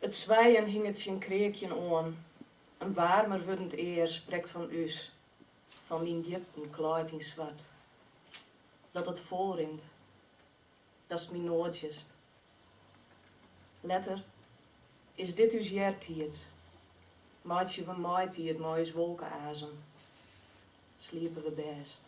It swijen hinget tsjin kreakjen oan, in waarmer wurdend ear sprekt fan ús, fan dyn djipten klaaid yn swart. Dat it folrint, datst my noadsjest. Letter, is dit ús eartiids, meitsje we maitiid mei ús wolkeazem, sliepe we bêst.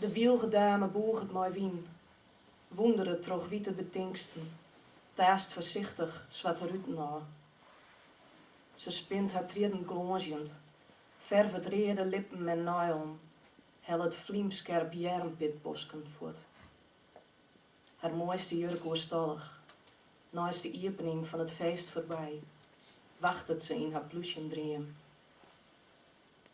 De wylgedame bûget mei wyn, wûnderet troch wite betinksten, taast foarsichtich swarte ruten ôf. Se spint har triedden glânzjend, fervet reade lippen en neilen, hellet flymskerp hearrenpitbosken fuort. Har moaiste jurk oerstallich, neist de iepening fan it feest foarby, wachtet se yn har plúsjen dream.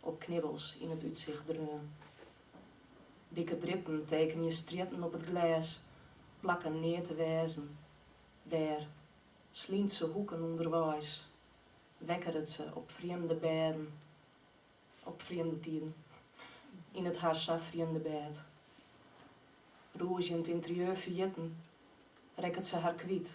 Op knibbels yn it útsicht dreaun. Dikke drippen tekenje strjitten op it glês, plakken neat te wêzen dêr, slyntse hoeken ûnderweis, wekkeret se op frjemde bêden, op frjemde tiden, yn it har sa frjemde bêd. Rûzjend ynterieur ferjitten, rekket se har kwyt,